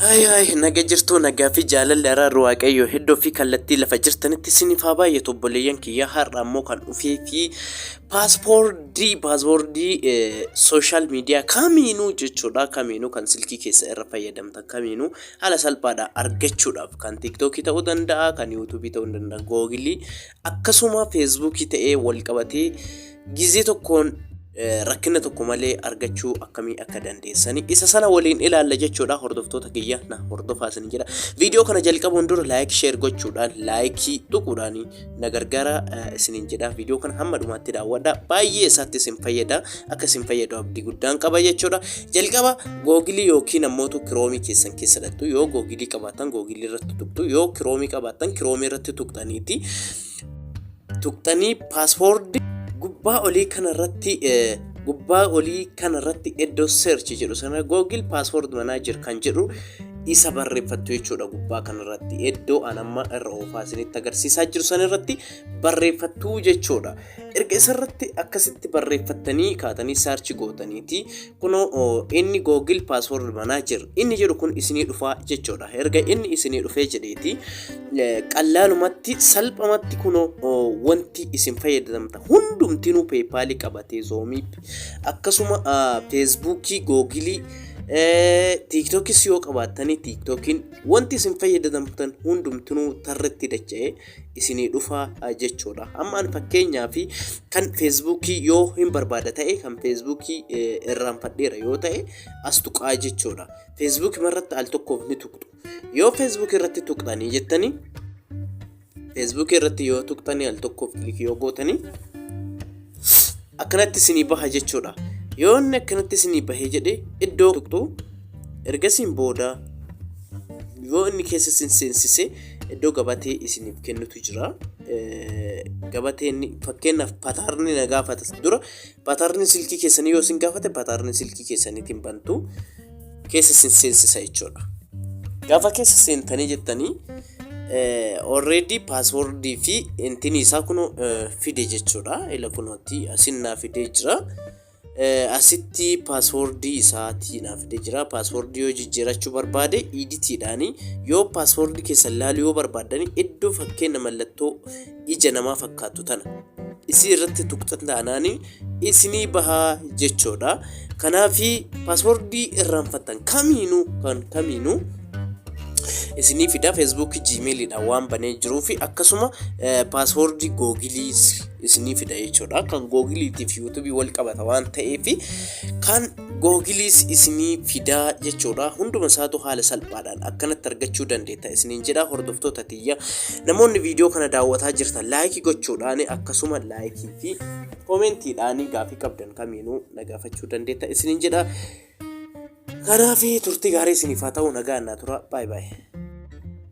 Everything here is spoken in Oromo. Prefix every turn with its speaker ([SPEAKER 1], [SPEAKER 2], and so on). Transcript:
[SPEAKER 1] Ay ay naga jirtuu nagaa fi jaalalli araarri waaqayyo heddoo fi kallattii lafa jirtanitti isiniif haa baay'atu obboleeyyan kiyya har'a ammoo kan dhufee fi paaspoortii paaspoortii sooshaal miidiyaa kamiinuu jechuudha kamiinuu kan silkii keessa irra fayyadamtan kamiinuu Haala salphaadhaan argachuudhaaf kan tiiktookii ta'uu danda'a, kan yuutuubii ta'uu ni danda'a, googilii akkasuma feesbuukii ta'ee wal qabatee gizee tokkoon eh, rakkina tokko malee argachuu akkamii akka dandeessanii isa sana waliin ilaalla jechuudha hordoftoota kiyya na hordofaa isin jedha viidiyoo kana jalqabuun dura laayik sheer gochuudhaan laayikii tuquudhaanii na gargaara isiniin jedha viidiyoo kana hamma dhumaatti daawwadha baay'ee isaatti isin fayyada akka isin fayyadu abdii guddaan qaba jechuudha jalqaba googilii yookiin ammoo kiroomii keessan keessa dhattu yoo googilii qabaatan googilii irratti tuqtu yoo kiroomii qabaatan kiroomii irratti tuqxaniiti tuqxanii paaspoordi gubbaa olii kana irratti gubbaa olii kana irratti iddoo search jedhu sana googil paaspoordi manaa jir kan jedhu isa barreeffattu jechuudha gubbaa kanarratti iddoo an amma irra oofaa isinitti agarsiisaa jiru sanirratti barreeffattu jechuudha erga isarratti akkasitti barreeffattanii kaatanii saarchi gootaniiti kunoo oo, inni googil paasword manager inni jedhu kun isinii dhufaa jechuudha erga inni isinii dhufee jedheeti eh, qallaalumatti salphamatti kunoo oo, wanti isin fayyadamta hundumtinuu peepaalii qabatee zoomiip akkasuma ah, feesbuukii googilii Tiiktookis yoo qabaattanii tiiktookiin wanti isin fayyadamtan hundumtinuu tarratti dacha'ee isinii dhufa jechuudha. Amma an fakkeenyaa fi kan feesbuukii yoo hin barbaada ta'e kan feesbuukii irraanfadheera yoo ta'e as tuqaa jechuudha. Feesbuukii irratti al tokkoof ni tuqxu. Yoo Facebook irratti tuqxanii jettanii Facebook irratti yoo tuqxanii al tokkoof kilik yoo gootanii akkanatti isinii baha jechuudha. Yoo inni akkanatti isinii bahee jedhe iddoo tuqxu ergasiin booda yoo inni keessa isin seensise iddoo gabatee isiniif kennutu jira. Gabateen fakkeenyaaf pataarni na gaafata dura Patarni silkii keessanii yoo isin gaafate patarni silkii keessaniitiin bantu keessa isin seensisa jechuudha. Gaafa keessa seentanii jettanii already paaswordii fi intinii isaa kun fide jechuudha. Ila kunooti asin naa fidee jira. Asitti paaswordii isaatii naa fidee jira. Paaswordii yoo jijjiirachuu barbaade iditiidhaani yoo paaswordii keessan laaluu yoo barbaadan iddoo fakkeenya mallattoo ija namaa fakkaattu tana isii irratti tuqxan taanaan isinii bahaa jechoodha kanaaf paaswordii irraanfattan kamiinuu kan kamiinuu isinii fida feesbuukii jiimeeliidha waan banee jiruu fi akkasuma paaswordii googilii isinii fida jechuudha kan googiliitiif yuutubii wal qabata waan ta'eef kan Googiliis isinii fida jechuudha. Hunduma isaatu haala salphaadhaan akkanatti argachuu dandeetta isiniin jedha hordoftoota tiyya. Namoonni viidiyoo kana daawwataa jirtan laayikii gochuudhaan akkasuma laayikii fi koomentiidhaan gaafii qabdan kamiinuu na gaafachuu dandeetta isiniin jedha. Kanaaf turtii gaarii isiniif haa ta'u nagaan naa tura. Baay baay.